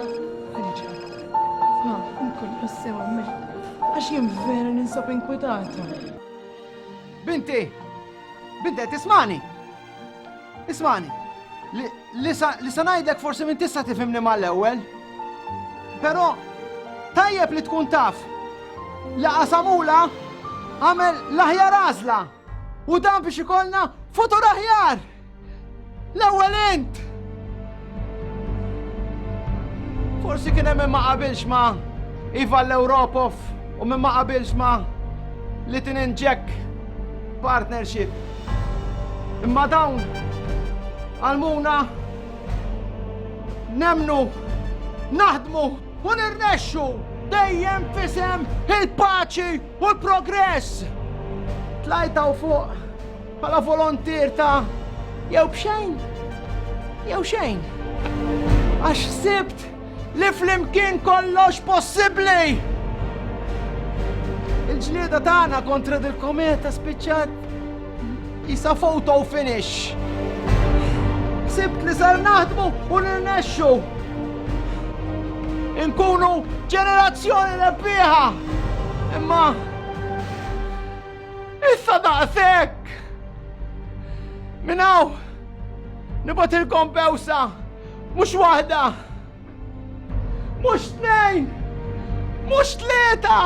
Għaliex qed nibqa' nkun tassew hemmhekk? Għax jien vera ninsab inkwitata. Binti! Binti qed tismani? Ismani, li sa ngħidlek forsi minn tista' tifhimni mal-ewwel. Però tajjeb li tkun taf li qasamula għamel l-aħjar għażla u dan biex ikollna futur aħjar! L-ewwel int! Forsi kien hemm ma qabilx ma iva l-Ewropof u minn ma qabilx ma li tinġek partnership. Imma dawn għalmuna nemnu naħdmu u nirnexxu dejjem fisem il-paċi u l-progress. Tlajta u fuq Bħala volontier ta' jew b'xejn jew xejn. Għax sibt li flimkien kollox possibbli! Il-ġlieda tagħna kontra dil-kometa spiċċat jisa photo finish. Sibt li sar naħdmu u nirnexxu. Inkunu ġenerazzjoni rebbieħa. Imma Issa daqshekk! Minn hawn nibatilkom bewsa mhux waħda, mhux tnejn, mhux tlieta,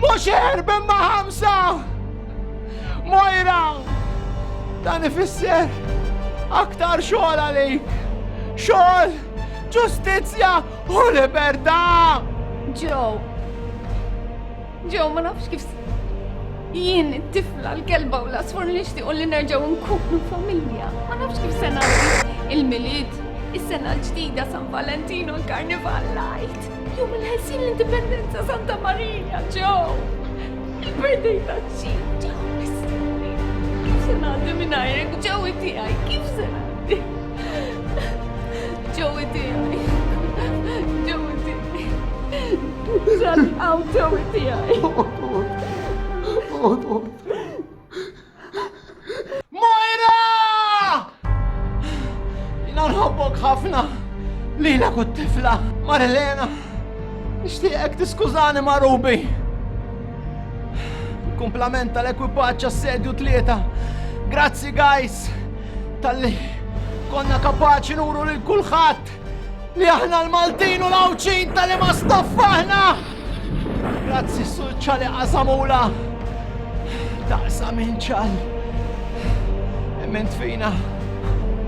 mhux erb imma ħamsa! Mojra! Dan ifisser aktar xogħol għalik! Xogħol, ġustizzja u libertà! Joe, Ġew ma nafx kif jien it-tifla l-kelba u l-asfur nixtiequ li nerġgħu nkunu familja. Ma nafx kif se nagħmel il-milied, is-sena l-ġdida San Valentino l-Karnival Light. Jum il-ħessin l-Indipendenza Santa Marija ġew. Il-birthday ta' ċi ġew mistenni. Kif se ngħaddi minn għajrek ġewi tiegħi, kif se ngħaddi? Ġewi tiegħi. Għaw sewi tijaj. Moira! Jina nħobbok ħafna li jina kut tifla Marilena. Nishtiqek tiskużani ma' Rubi. Kumplament tal-ekwipaċ assedju tlieta. Grazzi guys tal-li konna kapaċi nuru lil kulħadd Li aħna l-Maltin u l-Għawdxin tal-ima stoffa aħna! Grazzi s-sulċa li qasamula! Taqsa minn ċal! Emment fina!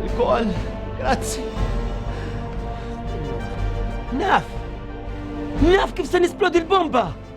Il-kol! Grazzi! Naf! Naf kif se nisplodi l-bomba!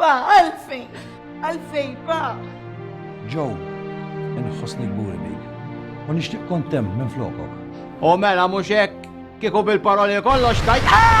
Pa, għalfejn, għalfejn, pa. Ġo, inħossni gburi bik. U nixtieq kontem minn flokok. U mela mhux hekk kieku bil-paroli kollox tajt. Ah!